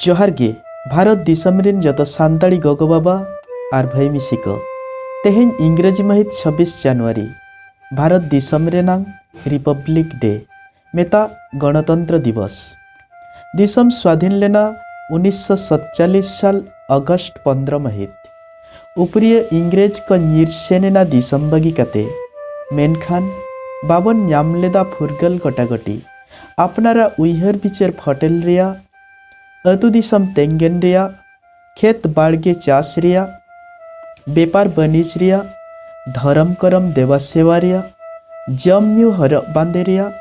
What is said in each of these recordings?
ᱡᱚᱦᱟᱨ ᱜᱮ ᱵᱷᱟᱨᱚᱛ ᱫᱤᱥᱚᱢ ᱨᱤᱱ ᱡᱚᱛᱚ ᱥᱟᱱᱛᱟᱲᱤ ᱜᱚᱜᱚ ᱵᱟᱵᱟ ᱟᱨ ᱵᱷᱟᱹᱭ ᱢᱤᱥᱤ ᱠᱚ ᱛᱮᱦᱮᱧ ᱤᱝᱨᱮᱡᱤ ᱢᱟᱹᱦᱤᱛ ᱪᱷᱟᱵᱵᱤᱥ ᱡᱟᱱᱩᱣᱟᱨᱤ ᱵᱷᱟᱨᱚᱛ ᱫᱤᱥᱚᱢ ᱨᱮᱱᱟᱝ ᱨᱤᱯᱟᱵᱽᱞᱤᱠ ᱰᱮ ᱢᱮᱛᱟᱜ ᱜᱚᱬᱚᱛᱚᱱᱛᱨᱚ ᱫᱤᱵᱚᱥ᱾ ᱫᱤᱥᱚᱢ ᱥᱣᱟᱫᱷᱤᱱ ᱞᱮᱱᱟ ᱩᱱᱤᱥᱥᱚ ᱥᱚᱛᱪᱟᱞᱞᱤᱥ ᱥᱟᱞ ᱚᱜᱚᱥᱴ ᱯᱚᱱᱫᱽᱨᱚ ᱢᱟᱹᱦᱤᱛ᱾ ᱩᱯᱨᱤᱭᱟᱹ ᱤᱝᱨᱮᱡᱽ ᱠᱚ ᱧᱤᱨ ᱥᱮᱱ ᱮᱱᱟ ᱫᱤᱥᱚᱢ ᱵᱟᱹᱜᱤ ᱠᱟᱛᱮ᱾ ᱢᱮᱱᱠᱷᱟᱱ ᱵᱟᱵᱚᱱ ᱧᱟᱢ ᱞᱮᱫᱟ ᱯᱷᱩᱨᱜᱟᱹᱞ ᱜᱚᱴᱟᱜᱚᱴᱤ᱾ ᱟᱯᱱᱟᱨᱟᱜ ᱩᱭᱦᱟᱹᱨ ᱵᱤᱪᱟᱹᱨ ᱯᱷᱚᱴᱮᱞ ᱨᱮᱭᱟᱜ, ᱟᱹᱛᱩ ᱫᱤᱥᱚᱢ ᱛᱮᱝᱜᱮᱱ ᱨᱮᱭᱟᱜ᱾ ᱠᱷᱮᱛ ᱵᱟᱲᱜᱮ ᱪᱟᱥ ᱨᱮᱭᱟᱜ, ᱵᱮᱯᱟᱨ ᱵᱟᱹᱱᱤᱡᱽ ᱨᱮᱭᱟᱜ, ᱫᱷᱚᱨᱚᱢ ᱠᱚᱨᱚᱢ ᱫᱮᱵᱟ ᱥᱮᱵᱟ ᱨᱮᱭᱟᱜ, ᱡᱚᱢ ᱧᱩ ᱦᱚᱨᱚᱜ ᱵᱟᱸᱫᱮ ᱨᱮᱭᱟᱜ,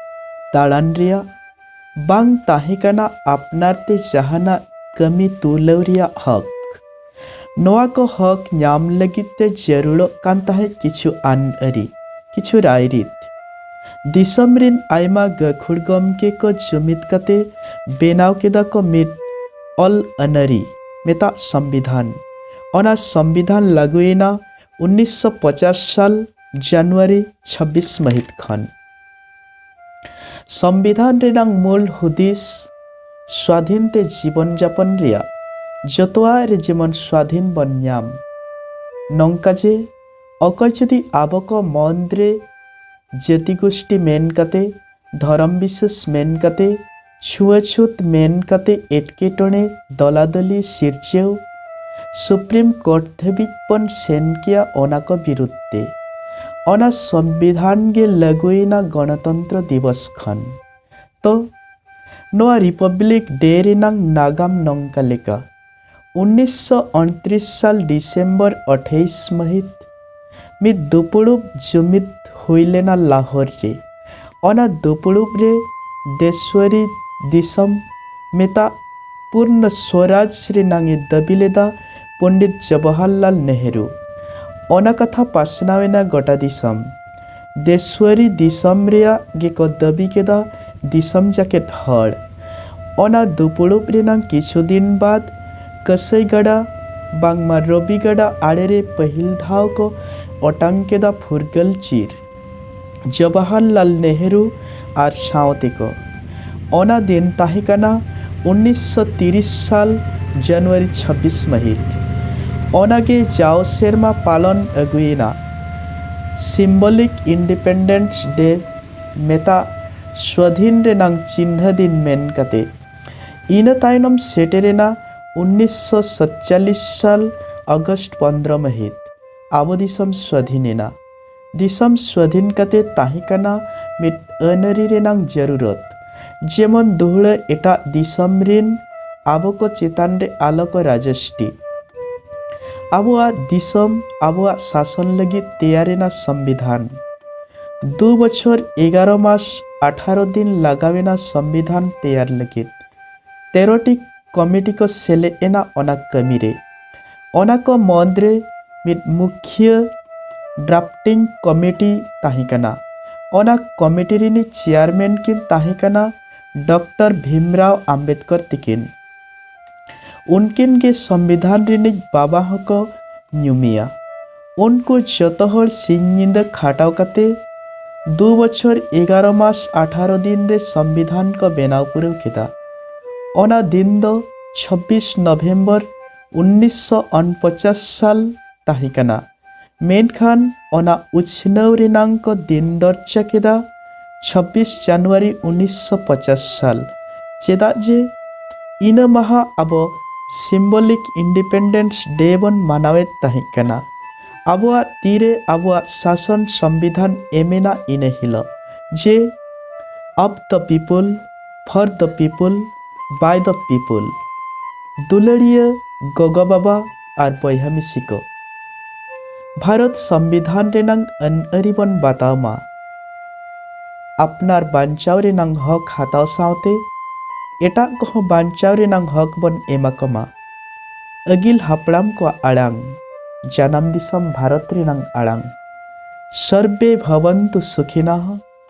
ᱫᱟᱲᱟᱱ ᱨᱮᱭᱟᱜ, ᱵᱟᱝ ᱛᱟᱦᱮᱸ ᱠᱟᱱᱟ ᱟᱯᱱᱟᱨ ᱛᱮ ᱡᱟᱦᱟᱱᱟᱜ ᱠᱟᱹᱢᱤ ᱛᱩᱞᱟᱹᱣ ᱨᱮᱭᱟᱜ ᱦᱚᱠ᱾ ᱱᱚᱣᱟ ᱠᱚ ᱦᱚᱠ ᱧᱟᱢ ᱞᱟᱹᱜᱤᱫ ᱛᱮ ᱡᱟᱹᱨᱩᱲᱚᱜ ᱠᱟᱱ ᱛᱟᱦᱮᱸᱫ ᱠᱤᱪᱷᱩ ᱟᱹᱱᱼᱟᱹᱨᱤ, ᱠᱤᱪᱷᱩ ᱨᱟᱭᱨᱤᱛ᱾ ᱫᱤᱥᱚᱢ ᱨᱤᱱ ᱟᱭᱢᱟ ᱜᱟᱹᱠᱷᱩᱲ ᱜᱚᱢᱠᱮ ᱠᱚ ᱡᱩᱢᱤᱫᱽ ᱠᱟᱛᱮ ᱵᱮᱱᱟᱣ ᱠᱮᱫᱟ ᱠᱚ ᱢᱤᱫ ᱚᱞ ᱟᱹᱱᱟᱹᱨᱤ ᱢᱮᱛᱟᱜ ᱥᱚᱢᱵᱤᱫᱷᱟᱱ ᱚᱱᱟ ᱥᱚᱢᱵᱤᱫᱷᱟᱱ ᱞᱟᱹᱜᱩᱭᱮᱱᱟ ᱩᱱᱤᱥᱥᱚ ᱯᱚᱪᱟᱥ ᱥᱟᱞ ᱡᱟᱱᱩᱣᱟᱨᱤ ᱪᱷᱟᱵᱵᱤᱥ ᱢᱟᱹᱦᱤᱛ ᱠᱷᱚᱱ ᱥᱚᱢᱵᱤᱫᱷᱟᱱ ᱨᱮᱱᱟᱝ ᱢᱩᱞ ᱦᱩᱫᱤᱥ ᱥᱣᱟᱫᱷᱤᱱ ᱛᱮ ᱡᱤᱵᱚᱱ ᱡᱟᱯᱚᱱ ᱨᱮᱭᱟᱜ ᱡᱚᱛᱚᱣᱟᱜ ᱨᱮ ᱡᱮᱢᱚᱱ ᱥᱣᱟᱫᱷᱤᱱ ᱵᱚᱱ ᱧᱟᱢ ᱱᱚᱝᱠᱟ ᱡᱮ ᱚᱠᱚᱭ ᱡᱩᱫᱤ ᱟᱵᱚ ᱠᱚ ᱢᱚᱱᱫᱨᱮ ᱡᱟᱹᱛᱤ ᱜᱳᱥᱴᱤ ᱢᱮᱱ ᱠᱟᱛᱮ ᱫᱷᱚᱨᱚᱢ ᱵᱤᱥᱮᱥ ᱢᱮᱱ ᱠᱟᱛᱮ ᱪᱷᱩᱣᱟᱹᱪᱷᱩᱛ ᱢᱮᱱ ᱠᱟᱛᱮ ᱮᱴᱠᱮᱴᱚᱬᱮ ᱫᱚᱞᱟᱫᱚᱞᱤ ᱥᱤᱨᱡᱟᱹᱣ ᱥᱩᱯᱨᱤᱢ ᱠᱳᱨᱴ ᱫᱷᱟᱹᱵᱤᱡ ᱵᱚᱱ ᱥᱮᱱ ᱠᱮᱭᱟ ᱚᱱᱟ ᱠᱚ ᱵᱤᱨᱩᱫᱷ ᱛᱮ᱾ ᱚᱱᱟ ᱥᱚᱢᱵᱤᱫᱷᱟᱱ ᱜᱮ ᱞᱟᱹᱜᱩᱭᱮᱱᱟ ᱜᱚᱬᱚᱛᱚᱱᱛᱨᱚ ᱫᱤᱵᱚᱥ ᱠᱷᱚᱱ᱾ ᱛᱚ, ᱱᱚᱣᱟ ᱨᱤᱯᱚᱵᱽᱞᱤᱠ ᱰᱮ ᱨᱮᱱᱟᱝ ᱱᱟᱜᱟᱢ ᱱᱚᱝᱠᱟ ᱞᱮᱠᱟ᱾ ᱩᱱᱤᱥᱥᱚ-ᱩᱱᱛᱨᱤᱥ ᱥᱟᱞ ᱰᱤᱥᱮᱢᱵᱚᱨ ᱟᱴᱷᱟᱭᱤᱥ ᱢᱟᱹᱦᱤᱛ ᱢᱤᱫ ᱫᱩᱯᱩᱲᱩᱵ ᱡᱩᱢᱤᱫ ᱦᱩᱭ ᱞᱮᱱᱟ ᱞᱟᱦᱚᱨ ᱨᱮ᱾ ᱚᱱᱟ ᱫᱩᱯᱩᱲᱩᱵ ᱨᱮ ᱫᱮᱥᱣᱟᱨᱤ ᱫᱤᱥᱚᱢ ᱢᱮᱛᱟᱜ ᱯᱩᱨᱱᱚ ᱥᱣᱚᱨᱟᱡᱽ ᱨᱮᱱᱟᱝ ᱮ ᱫᱟᱹᱵᱤ ᱞᱮᱫᱟ ᱯᱚᱸᱰᱤᱛ ᱡᱚᱵᱚᱦᱚᱨᱞᱟᱞ ᱱᱮᱦᱨᱩ᱾ ᱚᱱᱟ ᱠᱟᱛᱷᱟ ᱯᱟᱥᱱᱟᱣ ᱮᱱᱟ ᱜᱚᱴᱟ ᱫᱤᱥᱚᱢ᱾ ᱫᱮᱥᱣᱟᱨᱤ ᱫᱤᱥᱚᱢ ᱨᱮᱭᱟᱜ ᱜᱮᱠᱚ ᱫᱟᱹᱵᱤ ᱠᱮᱫᱟ ᱫᱤᱥᱚᱢ ᱡᱟᱠᱮᱴ ᱦᱚᱲ᱾ ᱚᱱᱟ ᱫᱩᱯᱩᱲᱩᱵ ᱨᱮᱱᱟᱝ ᱠᱤᱪᱷᱩ ᱫᱤᱱ ᱵᱟᱫᱽ ᱠᱟᱹᱥᱟᱹᱭ ᱜᱟᱰᱟ ᱵᱟᱝᱢᱟ ᱨᱚᱵᱤ ᱜᱟᱰᱟ ᱟᱲᱮ ᱨᱮ ᱯᱟᱹᱦᱤᱞ ᱫᱷᱟᱣ ᱠᱚ ᱚᱴᱟᱝ ᱠᱮᱫᱟ ᱯᱷᱩᱨᱜᱟᱹᱞ ᱪᱤᱨ᱾ ᱡᱚᱵᱟᱦᱚᱨᱞᱟᱞ ᱱᱮᱦᱨᱩ ᱟᱨ ᱥᱟᱶᱛᱮ ᱠᱚ᱾ ᱚᱱᱟ ᱫᱤᱱ ᱛᱟᱦᱮᱸ ᱠᱟᱱᱟ ᱩᱱᱤᱥ ᱥᱚ ᱛᱤᱨᱤᱥ ᱥᱟᱞ ᱡᱟᱱᱩᱣᱟᱨᱤ ᱪᱷᱟᱵᱵᱤᱥ ᱢᱟᱹᱦᱤᱛ᱾ ᱚᱱᱟ ᱜᱮ ᱡᱟᱣ ᱥᱮᱨᱢᱟ ᱯᱟᱞᱚᱱ ᱟᱹᱜᱩᱭᱮᱱᱟ ᱥᱤᱢᱵᱚᱞᱤᱠ ᱤᱱᱰᱤᱯᱮᱱᱰᱮᱱᱥ ᱰᱮ ᱢᱮᱛᱟᱜ ᱥᱣᱟᱫᱷᱤᱱ ᱨᱮᱱᱟᱝ ᱪᱤᱱᱦᱟᱹ ᱫᱤᱱ ᱢᱮᱱ ᱠᱟᱛᱮ᱾ ᱤᱱᱟᱹ ᱛᱟᱭᱱᱚᱢ ᱥᱮᱴᱮᱨᱮᱱᱟ ᱩᱱᱤᱥ ᱥᱚ ᱥᱟᱛᱪᱟᱞᱞᱤᱥ ᱥᱟᱞ ᱟᱜᱚᱥᱴ ᱯᱚᱱᱫᱽᱨᱚ ᱢᱟᱹᱦᱤᱛ ᱟᱵᱚ ᱫᱤᱥᱚᱢ ᱥᱣᱟᱫᱷᱤᱱ ᱮᱱᱟ᱾ ᱫᱤᱥᱚᱢ ᱥᱣᱟᱫᱷᱤᱱ ᱠᱟᱛᱮ ᱛᱟᱦᱮᱸ ᱠᱟᱱᱟ ᱢᱤᱫ ᱟᱹᱱᱟᱹᱨᱤ ᱨᱮᱱᱟᱝ ᱡᱟᱹᱨᱩᱨᱚᱛ᱾ ᱡᱮᱢᱚᱱ ᱫᱩᱦᱲᱟᱹ ᱮᱴᱟᱜ ᱫᱤᱥᱚᱢ ᱨᱤᱱ ᱟᱵᱚ ᱠᱚ ᱪᱮᱛᱟᱱ ᱨᱮ ᱟᱞᱚ ᱠᱚ ᱨᱟᱡᱚᱥᱴᱤ᱾ ᱟᱵᱚᱣᱟᱜ ᱫᱤᱥᱚᱢ ᱟᱵᱚᱣᱟᱜ ᱥᱟᱥᱚᱱ ᱞᱟᱹᱜᱤᱫ ᱛᱮᱭᱟᱨ ᱮᱱᱟ ᱥᱚᱢᱵᱤᱫᱷᱟᱱ᱾ ᱫᱩ ᱵᱚᱪᱷᱚᱨ ᱮᱜᱟᱨᱚ ᱢᱟᱥ ᱟᱴᱷᱟᱨᱚ ᱫᱤᱱ ᱞᱟᱜᱟᱣ ᱮᱱᱟ ᱥᱚᱢᱵᱤᱫᱷᱟᱱ ᱛᱮᱭᱟᱨ ᱞᱟᱹᱜᱤᱫ᱾ ᱛᱮᱨᱚ ᱴᱤ ᱠᱚᱢᱤᱴᱤ ᱠᱚ ᱥᱮᱞᱮᱫ ᱮᱱᱟ ᱚᱱᱟ ᱠᱟᱹᱢᱤ ᱨᱮ᱾ ᱚᱱᱟ ᱠᱚ ᱢᱚᱫᱽ ᱨᱮ ᱢᱤᱫ ᱢᱩᱠᱷᱤᱭᱟᱹ ᱰᱨᱟᱯᱴᱤᱝ ᱠᱚᱢᱤᱴᱤ ᱛᱟᱦᱮᱸ ᱠᱟᱱᱟ ᱚᱱᱟ ᱠᱚᱢᱤᱴᱤ ᱨᱤᱱᱤᱡ ᱪᱮᱭᱟᱨᱢᱮᱱ ᱠᱤᱱ ᱛᱟᱦᱮᱸ ᱠᱟᱱᱟ ᱰᱚᱠᱴᱚᱨ ᱵᱷᱤᱢᱨᱟᱣ ᱟᱢᱵᱮᱫᱠᱚᱨ ᱛᱤᱠᱤᱱ ᱩᱱᱠᱤᱱ ᱜᱮ ᱥᱚᱢᱵᱤᱫᱷᱟᱱ ᱨᱤᱱᱤᱡ ᱵᱟᱵᱟ ᱦᱚᱸᱠᱚ ᱧᱩᱢᱮᱭᱟ ᱩᱱᱠᱩ ᱡᱚᱛᱚ ᱦᱚᱲ ᱥᱤᱧ ᱧᱤᱫᱟᱹ ᱠᱷᱟᱴᱟᱣ ᱠᱟᱛᱮ ᱫᱩ ᱵᱚᱪᱷᱚᱨ ᱮᱜᱟᱨᱚ ᱢᱟᱥ ᱟᱴᱷᱟᱨᱚ ᱫᱤᱱ ᱨᱮ ᱥᱚᱢᱵᱤᱫᱷᱟᱱ ᱠᱚ ᱵᱮᱱᱟᱣ ᱯᱩᱨᱟᱹᱣ ᱠᱮᱫᱟ ᱚᱱᱟ ᱫᱤᱱ ᱫᱚ ᱪᱷᱚᱵᱵᱤᱥ ᱱᱚᱵᱷᱮᱢᱵᱚᱨ ᱩᱱᱤᱥᱥᱚ ᱚᱱᱯᱚᱪᱟᱥ ᱥᱟᱞ ᱛᱟᱦᱮᱸ ᱠᱟᱱᱟ ᱢᱮᱱᱠᱷᱟᱱ ᱚᱱᱟ ᱩᱪᱷᱱᱟᱹᱣ ᱨᱮᱱᱟᱝ ᱠᱚ ᱫᱤᱱ ᱫᱚᱨᱡᱟ ᱠᱮᱫᱟ ᱪᱷᱟᱵᱵᱤᱥ ᱡᱟᱱᱩᱣᱟᱨᱤ ᱩᱱᱤᱥᱥᱚ ᱯᱚᱪᱟᱥ ᱥᱟᱞ ᱪᱮᱫᱟᱜ ᱡᱮ ᱤᱱᱟᱹ ᱢᱟᱦᱟ ᱟᱵᱚ ᱥᱤᱢᱵᱚᱞᱤᱠ ᱤᱱᱰᱤᱯᱮᱱᱰᱮᱱᱥ ᱰᱮ ᱵᱚᱱ ᱢᱟᱱᱟᱣᱮᱫ ᱛᱟᱦᱮᱸ ᱠᱟᱱᱟ ᱟᱵᱚᱣᱟᱜ ᱛᱤᱨᱮ ᱟᱵᱚᱣᱟᱜ ᱥᱟᱥᱚᱱ ᱥᱚᱢᱵᱤᱫᱷᱟᱱ ᱮᱢᱮᱱᱟ ᱤᱱᱟᱹ ᱦᱤᱞᱚᱜ ᱡᱮ of the people for the people by the people ᱫᱩᱞᱟᱹᱲᱤᱭᱟᱹ ᱜᱚᱜᱚ ᱵᱟᱵᱟ ᱟᱨ ᱵᱚᱭᱦᱟ ᱢᱤᱥᱤ ᱠᱚ ᱵᱷᱟᱨᱚᱛ ᱥᱚᱢᱵᱤᱫᱷᱟᱱ ᱨᱮᱱᱟᱝ ᱟᱹᱱ ᱟᱹᱨᱤ ᱵᱚᱱ ᱵᱟᱛᱟᱣ ᱢᱟ ᱟᱯᱱᱟᱨ ᱵᱟᱧᱪᱟᱣ ᱨᱮᱱᱟᱝ ᱦᱚᱠ ᱦᱟᱛᱟᱣ ᱥᱟᱶᱛᱮ ᱮᱴᱟᱜ ᱠᱚᱦᱚᱸ ᱵᱟᱧᱪᱟᱣ ᱨᱮᱱᱟᱝ ᱦᱚᱠ ᱵᱚᱱ ᱮᱢᱟ ᱠᱚ ᱢᱟ ᱟᱹᱜᱤᱞ ᱦᱟᱯᱲᱟᱢ ᱠᱚᱣᱟᱜ ᱟᱲᱟᱝ ᱡᱟᱱᱟᱢ ᱫᱤᱥᱚᱢ ᱵᱷᱟᱨᱚᱛ ᱨᱮᱱᱟᱝ ᱟᱲᱟᱝ ᱥᱚᱨᱵᱮ ᱵᱷᱚᱵᱚᱱᱛᱩ ᱥᱩᱠᱷᱤᱱᱟᱦ